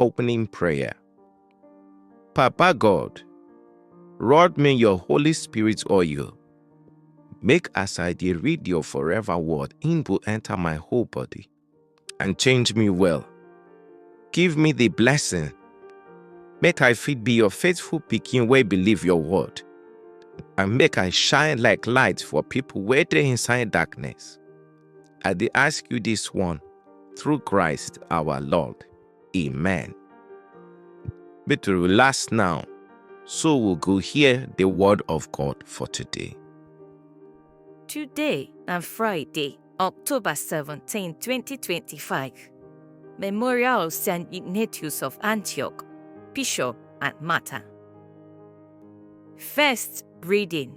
Opening Prayer Papa God, rod me your Holy Spirit oil. Make as I dey read your forever word, im go enter my whole body and change me well. Give me the blessing, make I fit be your faithful pikin wey believe your word, and make I shine like light for people wey dey inside darkness. I dey ask you this one through Christ our Lord. Amen. Make to relax now, so we go hear the word of God for today. Today na Friday, October 17, 2025. Memorial of St. Ignatius of Antioch, Bishop and Martyr. First reading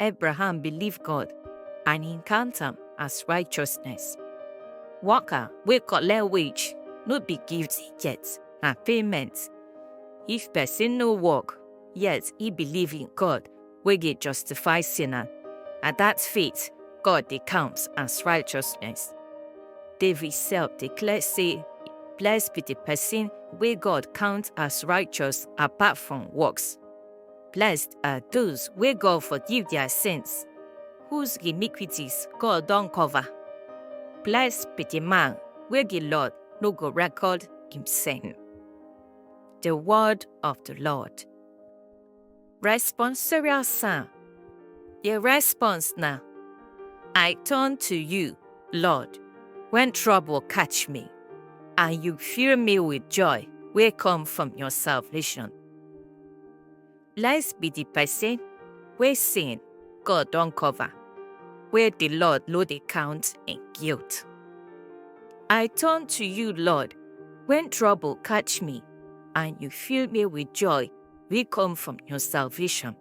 Abraham believe God and he count am as righteousness. Worker wey collect wage no be gift he get, na payment. If person no work, yet he believe in God wey dey justify sinner, na that faith God dey count as righteousness. David self declare say, Blessed be the person wey God count as righteous apart from works. Blessed are those wey God forgive their sins, whose iniquities God don cover. Blessed be the man wey the Lord no go record him sin. The word of the Lord. Responsorial Psalm. The response na, I turn to you, Lord, when trouble catch me, and you fill me with joy wey come from your salvation. Blessed be the person wey sin God don cover, where the Lord no dey count im guilt. I turn to you, Lord, when trouble catch me, and you fill me with joy wey come from your salvation.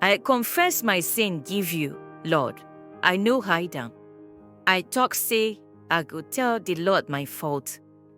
I confess my sin give you, Lord, I no hide am. I talk say I go tell the Lord my fault.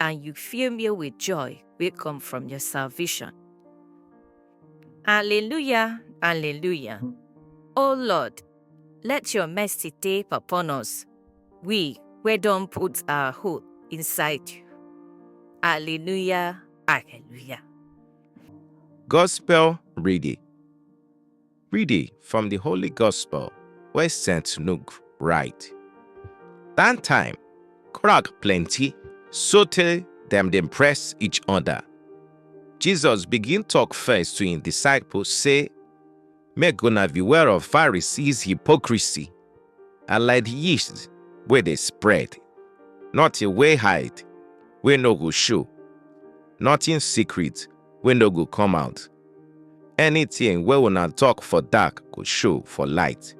and you fill me with joy wey come from your salvation. Alleluia, alleluia. O Lord, let your mercy dey upon us, we wey don put our hope inside you. Alleluia, alleluia. Gospel reading. Reading from the Holy Gospel wey St. Luke write. That time, crowd plenty, sotey dem dey press each other. Jesus begin talk first to him disciples say, Make una beware of Pharisees hypocrisy, and like the yeast wey dey spread, nothing wey hide wey no go show, nothing secret wey no go come out. Anything wey una talk for dark go show for light.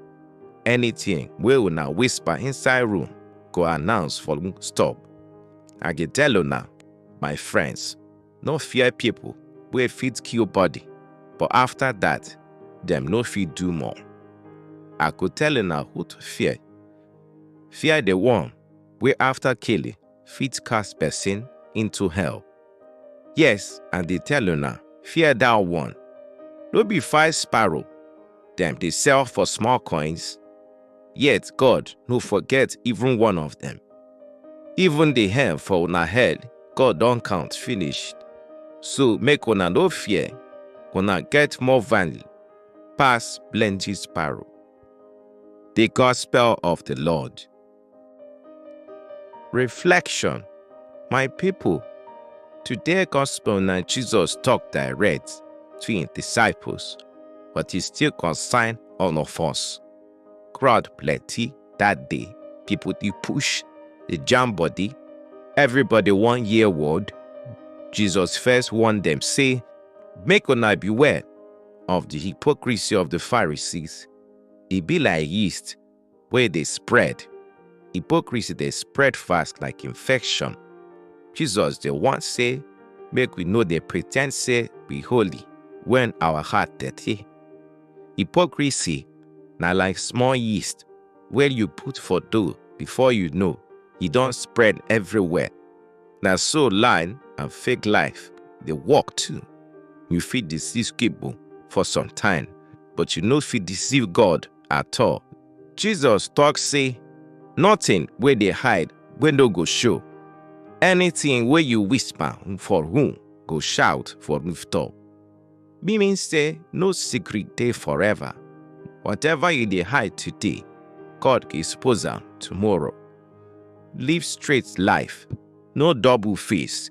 Anything wey una whisper inside room go announce for stop. I dey tell una, my friends, no fear people wey fit kill body, but after that, dem no fit do more. I go tell una who to fear. Fear the one wey after killing fit cast person into hell. Yes, I dey tell una, fear that one. No be five sparrow dem dey sell for small coins? Yet God no forget even one of them. Even the hair for una head, God don count finish. So make una no fear, una get more value pass plenty sparrow. The Gospel of the Lord. Reflection My people, today gospel na Jesus talk direct to him disciples, but he still concern all of us. Crowd plenty that day, people dey push, dey jam body, everybody wan hear word. Jesus first warn them say, make una beware of the hypocrisy of the Pharisees. E be like yeast wey dey spread. Hypocrisy dey spread fast like infection. Jesus dey warn say make we no dey pretend say we holy when our heart dirty. Hypocrisy na like small yeast wey you put for dough before you know e don spread everywhere. Na so line and fake life dey work too. You fit deceive people for some time, but you no fit deceive God. at all. Jesus talk say, Nothing wey dey hide wey no go show. Anything wey you whisper for room go shout for rooftop. Meaning say no secret dey forever. Whatever you dey hide today, God go expose am tomorrow. Live straight life, no double face.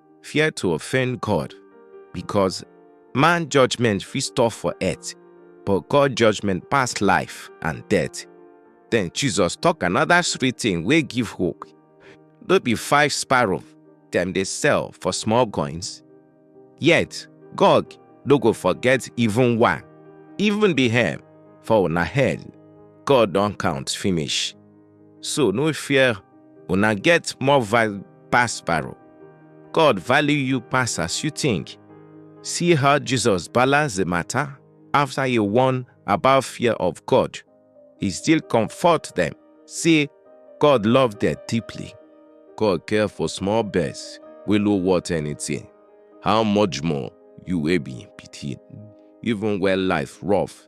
fear to offend God, because man judgment fit stop for earth, but God judgment pass life and death. Then Jesus talk another sweet thing wey give hope. No be five sparrow dem dey sell for small coins? Yet God no go forget even one, even the hair for una head, God don count finish. So no fear, una get more value pass sparrow. God value you pass as you think. See how Jesus balanced the matter after he warned about fear of God. He still comfort them, say God love them deeply. God care for small birds, we no want anything. How much more you will be pitying, even when life rough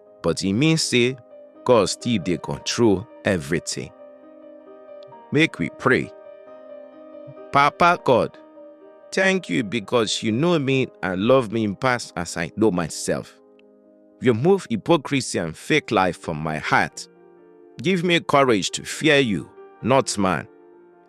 but e mean say God still dey control everything. Make we pray. Papa God, thank you because you know me and love me past as I know myself. You move hypocrisy and fake life from my heart. Give me courage to fear you, not man.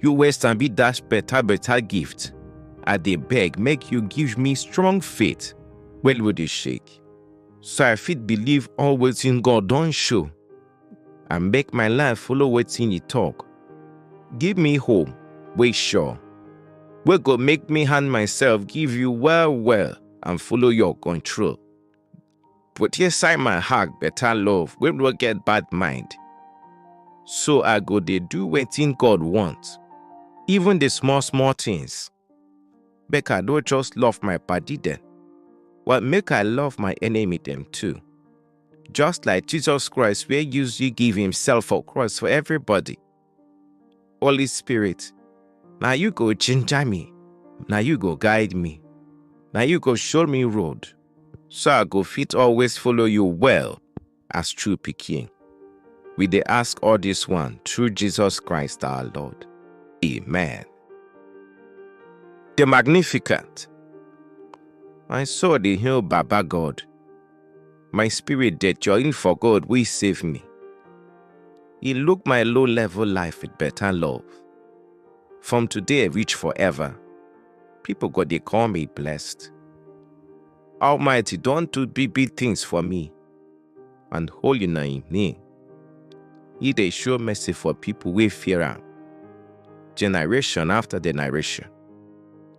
You wey sabi dash better better gift, I dey beg make you give me strong faith wey no dey shake, so I fit believe all wetin God don show and make my life follow wetin He talk. Give me hope wey sure, wey go make me hand myself give you well well and follow your control. Put inside my heart better love wey no get bad mind. So I go dey do wetin God want, even the small small things. Make I no just love my padi dem, but make I love my enemy dem too. Just like Jesus Christ wey use you give himself for cross for everybody. Holy Spirit, now you go ginger me, now you go guide me, now you go show me road, so I go fit always follow you well as true picking. We they ask all this one through Jesus Christ our Lord. Amen. The Magnificent. I saw the hill Baba God My spirit dey join for God wey save me. He look my low level life with better love. From today reach forever, people go dey call me blessed. Almighty don do big big things for me and holy na im name. He dey show mercy for people wey fear am, generation after generation.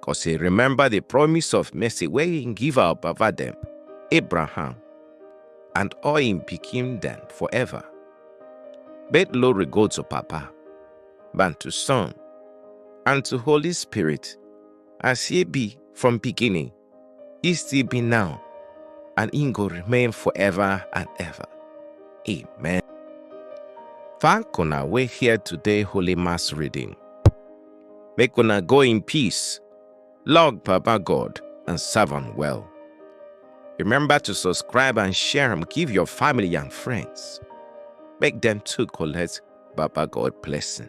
cos he remember the promise of mercy wey he give our baba dem, Abraham, and all him pikin dem forever. But glory go to Papa, and to Son, and to Holy Spirit, as he be from beginning, he still be now, and he go remain forever and ever. Amen. Thank una wey hear today Holy Mass reading. Make una go in peace. Log Papa God and serve am well. Remember to subscribe and share am give your family and friends. Make them too collect Baba God blessing.